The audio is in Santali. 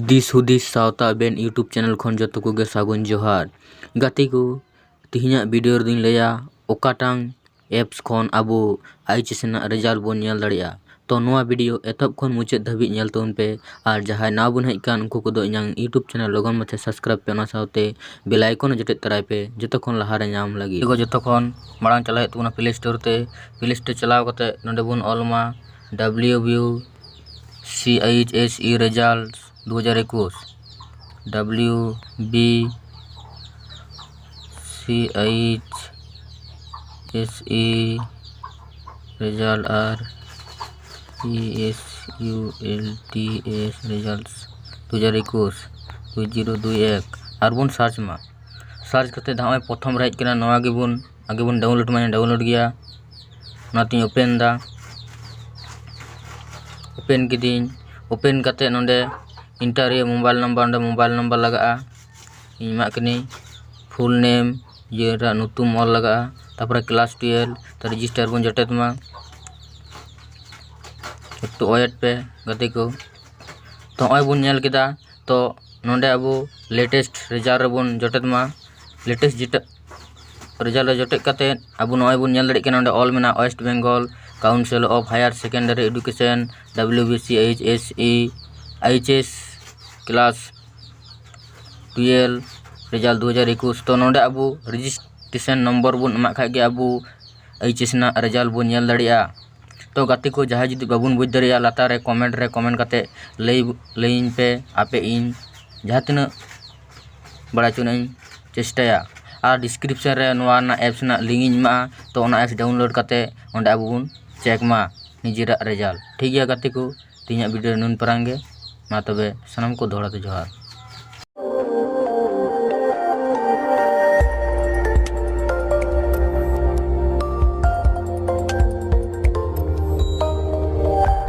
ᱫᱤᱥ ᱦᱩᱫᱤᱥ ᱥᱟᱶᱛᱟ ᱟᱵᱮᱱ ᱤᱭᱩᱴᱩᱵᱽ ᱪᱮᱱᱮᱞ ᱠᱷᱚᱱ ᱡᱚᱛᱚ ᱠᱚᱜᱮ ᱥᱟᱹᱜᱩᱱ ᱡᱚᱦᱟᱨ ᱜᱟᱛᱮ ᱠᱚ ᱛᱮᱦᱮᱧᱟᱜ ᱵᱷᱤᱰᱤᱭᱳ ᱨᱮᱫᱚᱧ ᱞᱟᱹᱭᱟ ᱚᱠᱟᱴᱟᱝ ᱮᱯᱥ ᱠᱷᱚᱱ ᱟᱵᱚ ᱟᱭᱤᱪ ᱮᱥ ᱨᱮᱱᱟᱜ ᱨᱮᱡᱟᱞᱴ ᱵᱚᱱ ᱧᱮᱞ ᱫᱟᱲᱮᱭᱟᱜᱼᱟ ᱛᱚ ᱱᱚᱣᱟ ᱵᱷᱤᱰᱤᱭᱳ ᱮᱛᱚᱦᱚᱵ ᱠᱷᱚᱱ ᱢᱩᱪᱟᱹᱫ ᱫᱷᱟᱹᱵᱤᱡ ᱧᱮᱞ ᱛᱟᱵᱚᱱ ᱯᱮ ᱟᱨ ᱡᱟᱦᱟᱸᱭ ᱱᱟᱣᱟ ᱵᱚᱱ ᱦᱮᱡ ᱟᱠᱟᱱ ᱩᱱᱠᱩ ᱠᱚᱫᱚ ᱤᱧᱟᱹᱝ ᱤᱭᱩᱴᱩᱵᱽ ᱪᱮᱱᱮᱞ ᱞᱚᱜᱚᱱ ᱢᱟᱪᱷᱟ ᱥᱟᱵᱥᱠᱨᱟᱭᱤᱵᱽ ᱯᱮ ᱚᱱᱟ ᱥᱟᱶᱛᱮ ᱵᱮᱞ ᱟᱭᱠᱚᱱ ᱦᱚᱸ ᱡᱚᱴᱮᱫ ᱛᱚᱨᱟᱭ ᱯᱮ ᱡᱚᱛᱚ ᱠᱷᱚᱱ ᱞᱟᱦᱟ ᱨᱮ ᱧᱟᱢ ᱞᱟᱹᱜᱤᱫ ᱛᱚ ᱡᱚᱛᱚ ᱠᱷᱚᱱ ᱢᱟᱲᱟᱝ ᱪᱟᱞᱟᱜ ᱦᱩᱭᱩᱜ ᱛᱟᱵᱚᱱᱟ ᱯᱞᱮ ᱥᱴᱳᱨ ᱛᱮ ᱯᱞᱮ ᱥᱴᱳᱨ ᱪᱟᱞᱟᱣ ᱠᱟᱛᱮᱫ ᱱᱚᱰᱮ ᱵᱚᱱ ᱚᱞ ᱢᱟ W B C H S E result ᱫᱩ ᱦᱟᱡᱟᱨ ᱮᱠᱩᱥ W B C H S E result R E S U L T S result ᱫᱩ ᱦᱟᱡᱟᱨ ᱮᱠᱩᱥ ᱫᱩ ᱡᱤᱨᱳ ᱫᱩᱭ ᱮᱠ ᱟᱨᱵᱚᱱ ᱥᱟᱨᱪ ᱢᱟ ᱥᱟᱨᱪ ᱠᱟᱛᱮᱫ ᱱᱚᱜᱼᱚᱭ ᱯᱨᱚᱛᱷᱚᱢ ᱨᱮ ᱦᱮᱡ ᱠᱟᱱᱟ ᱱᱚᱣᱟ ᱜᱮᱵᱚᱱ ᱟᱜᱮ ᱵᱚᱱ ᱰᱟᱣᱩᱱᱞᱳᱰ ᱢᱟᱭᱟ ᱰᱟᱣᱩᱱᱞᱳᱰ ᱜᱮᱭᱟ ᱚᱱᱟᱛᱤᱧ ᱳᱯᱮᱱ ᱫᱟ ᱳᱯᱮᱱ ᱠᱤᱫᱟᱹᱧ ᱳᱯᱮᱱ ᱠᱟᱛᱮ ᱱᱚᱰᱮ ᱤᱱᱴᱟᱨ ᱦᱩᱭᱩᱜᱼᱟ ᱢᱳᱵᱟᱭᱤᱞ ᱱᱟᱢᱵᱟᱨ ᱚᱸᱰᱮ ᱢᱳᱵᱟᱭᱤᱞ ᱱᱟᱢᱵᱟᱨ ᱞᱟᱜᱟᱜᱼᱟ ᱤᱧ ᱮᱢᱟᱜ ᱠᱟᱹᱱᱟᱹᱧ ᱯᱷᱩᱞ ᱱᱮᱢ ᱤᱭᱟᱹ ᱨᱮᱭᱟᱜ ᱧᱩᱛᱩᱢ ᱚᱞ ᱞᱟᱜᱟᱜᱼᱟ ᱛᱟᱯᱚᱨᱮ ᱠᱞᱟᱥ ᱴᱩᱭᱮᱞᱵᱷ ᱨᱮᱡᱤᱥᱴᱟᱨ ᱵᱚᱱ ᱡᱚᱴᱮᱫ ᱢᱟ ᱮᱠᱴᱩ ᱳᱭᱮᱴ ᱯᱮ ᱜᱟᱛᱮ ᱠᱚ ᱛᱚ ᱱᱚᱜᱼᱚᱭ ᱵᱚᱱ ᱧᱮᱞ ᱠᱮᱫᱟ ᱛᱚ ᱱᱚᱰᱮ ᱟᱵᱚ ᱞᱮᱴᱮᱥᱴ ᱨᱮᱡᱟᱞᱴ ᱨᱮᱵᱚᱱ ᱡᱚᱴᱮᱫ ᱢᱟ ᱞᱮᱴᱮᱥᱴ ᱡᱮᱴᱟ ᱨᱮᱡᱟᱞᱴ ᱨᱮ ᱡᱚᱴᱮᱫ ᱠᱟᱛᱮ ᱟᱵᱚ ᱱᱚᱜᱼᱚᱭ ᱵᱚᱱ ᱧᱮᱞ ᱫᱟᱲᱮᱭᱟᱜ ᱠᱟᱱᱟ ᱱᱚᱰᱮ ᱚᱞ ᱢᱮᱱᱟᱜᱼᱟ West Bengal council of higher secondary education W B C H S E H S class twelve result ᱫᱩ ᱦᱟᱡᱟᱨ ᱮᱠᱩᱥ ᱛᱚ ᱱᱚᱰᱮ ᱟᱵᱚ ᱨᱮᱡᱤᱥᱴᱮᱥᱮᱱ ᱱᱚᱢᱵᱚᱨ ᱵᱚᱱ ᱮᱢᱟᱜ ᱠᱷᱟᱡ ᱜᱮ ᱟᱵᱚ ᱮᱭᱤᱪ ᱮᱥ ᱨᱮᱱᱟᱜ ᱨᱮᱡᱟᱞᱴ ᱵᱚᱱ ᱧᱮᱞ ᱫᱟᱲᱮᱭᱟᱜᱼᱟ ᱛᱚ ᱜᱟᱛᱮ ᱠᱚ ᱡᱟᱦᱟᱸᱭ ᱡᱩᱫᱤ ᱵᱟᱵᱚᱱ ᱵᱩᱡᱽ ᱫᱟᱲᱮᱭᱟᱜᱼᱟ ᱞᱟᱛᱟᱨ ᱨᱮ ᱠᱚᱢᱮᱱᱴ ᱨᱮ ᱠᱚᱢᱮᱱᱴ ᱠᱟᱛᱮ ᱞᱟᱹᱭ ᱞᱟᱹᱭᱟᱹᱧ ᱯᱮ ᱟᱯᱮ ᱤᱧ ᱡᱟᱦᱟᱸ ᱛᱤᱱᱟᱹᱜ ᱵᱟᱲᱟᱭ ᱦᱚᱪᱚ ᱨᱮᱱᱟᱜ ᱤᱧ ᱪᱮᱥᱴᱟᱭᱟ ᱟᱨ ᱰᱤᱥᱠᱨᱤᱯᱥᱮᱱ ᱨᱮ ᱱᱚᱣᱟ ᱨᱮᱱᱟᱜ ᱮᱯᱥ ᱨᱮᱱᱟᱜ ᱞᱤᱝᱠ ᱤᱧ ᱮᱢᱟᱜᱼᱟ ᱛᱚ ᱚᱱᱟ ᱮᱯᱥ ᱰᱟᱣᱩᱱᱞᱳᱰ ᱠᱟᱛᱮ ᱚᱸᱰᱮ ᱟᱵᱚ ᱵᱚᱱ ᱪᱮᱠ ᱢᱟ ᱱᱤᱡᱮᱨᱟᱜ ᱨᱮᱡᱟᱞᱴ ᱴᱷᱤᱠ ᱜᱮᱭᱟ ᱜᱟᱛᱮ ᱠᱚ ᱛᱮᱦᱮᱧᱟᱜ ᱵᱷᱤᱰᱭᱳ ᱫᱚ ᱱᱩᱱ ᱯᱟᱨᱟᱝ ᱜᱮ ᱢᱟ ᱛᱚᱵᱮ ᱥᱟᱱᱟᱢ ᱠᱚ ᱫᱚᱦᱲᱟ ᱛᱮ ᱡᱚᱦᱟᱨ